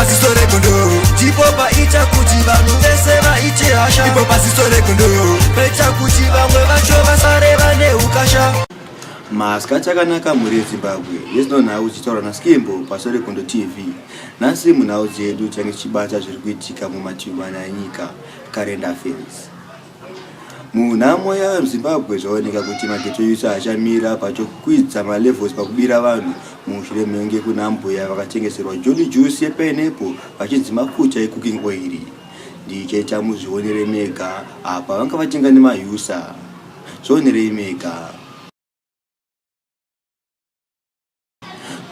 Pasiso regondo Chipo paita kuti vanhu vese vaite hasha Ipo pasiso regondo Paita kuti vamwe vacho vasare vane ukasha Maska chakanaka mhuri yeZimbabwe yezino nhau dzichitaura naSkimbo pasore Kondo TV. Nhasi munhau dzedu change tichibata zviri kuitika mumativi mana enyika, current affairs. Munhamo yaZimbabwe zvaoneka kuti magetsi ose haachamira pachokwidza malevels pakubira vanhu mushure menge kuna mbuya vakatengeserwa jolly juice yepineapple vachinzi mafuta ecooking oil ndichaita muzvionere mega apa vanga vatenga nemausa zvionerei mega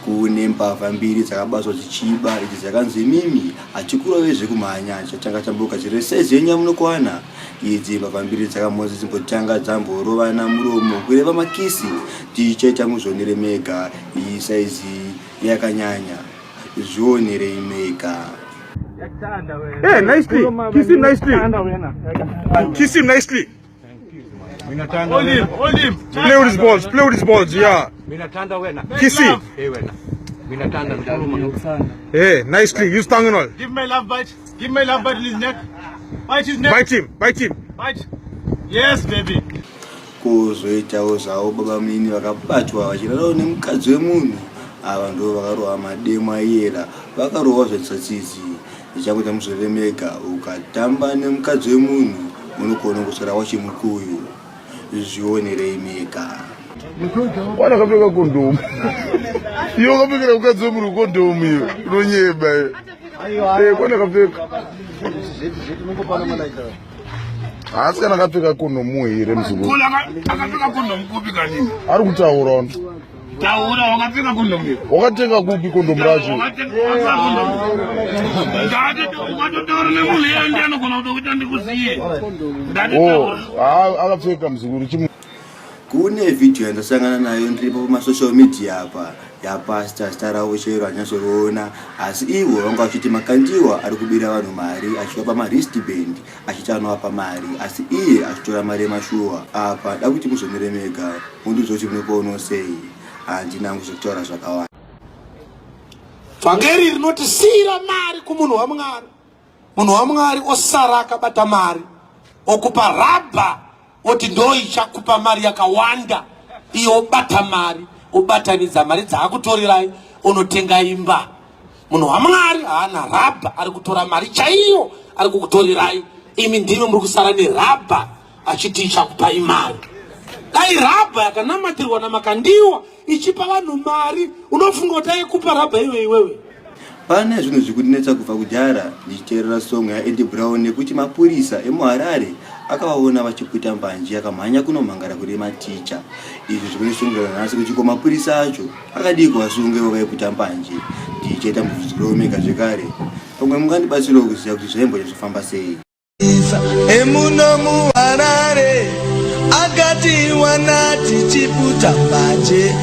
kune mbavha mbiri dzakabatwa dzichiba idzi dzakanzi mimi hatikurove zvekumhanya chatanga tambuka dziri saizi yenyu yamunokwana idzi mbavha mbiri dzakamhonzi dzimbotanga dzamborovana muromo kureva makisi tichaita muzvionere mega iyi saizi yakanyanya zvionerei mega Hey, eh, nicely. Kiss him nicely. Kiss him nicely. kuzoitawo zvavo baba mnini vakabatwa vachirarawo nemukadzi wemunhu ava ndo vakarohwa mademo aiyera vakarohwa zvetsotsidzi Ndichakuita museve mega ukatamba nemukadzi wemunhu unogona kusara wachimukuyu zvionerei mega. Wana kapfeka kondomu iyo ukapfekera mukadzi wemunhu kondomu iyo unonyeba iyo eh, kwana kapfeka haasi kana akapfeka kondomu here muzukuru ari kutaura Taura wakatenga kondomu. Wakatenga kupi kondomu racho? Ukatotaura nemunhu iye ndiye anogona kutokuita ndikuziye. Oh, akapfeka muzukuru chimu. Kune video yandasangana nayo ndiripo pamasocial media apa yapasta zita ravo chero hanyasoriona asi ivo vanga vachiti makandiwa ari kubira vanhu mari achivapa maristband achiti anovapa mari asi iye achitora mari yemashuwa apa da kuti muzomire mega mundiudza kuti munopoono sei handina hangu zvekutaura zvakawanda vhangeri rinoti siyira mari kumunhu wamwari munhu wamwari osara akabata mari okupa rabha oti ndoichakupa mari yakawanda iyo obata mari obatanidza mari dzaakutorerai onotenga imba munhu wamwari haana rabha ari kutora mari chaiyo ari kukutorerai imi ndimi muri kusara nerabha achiti ichakupai mari dai rabha yakanamatirwa namakandiwa ichipa vanhu mari unofunga kuti aikupa rabha iwe iwewe pane zvinhu zvikundinetsa kubva kudhara ndichiteerera songo yaendi brown nekuti mapurisa emuharare akavaona vachiputa mbanje akamhanya kunomhangara kune maticha izvi zvikundisungira nhasi kuti ko mapurisa acho akadii kuvasunge vavaiputa mbanje ndichaita mubvunzo kuromega zvekare pamwe mungandibatsirawo kuziva kuti zvaimbonyatso famba sei emuno muharare akati wana tichiputa mbaje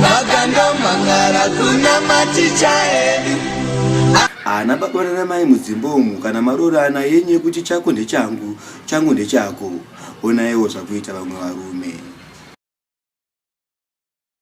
vakandomangara kuna maticha edu haana baba nana mai mudzimba umu kana maroorana yenyu yekuti chako ndechangu changu ndechako onaiwo zvakuita vamwe varume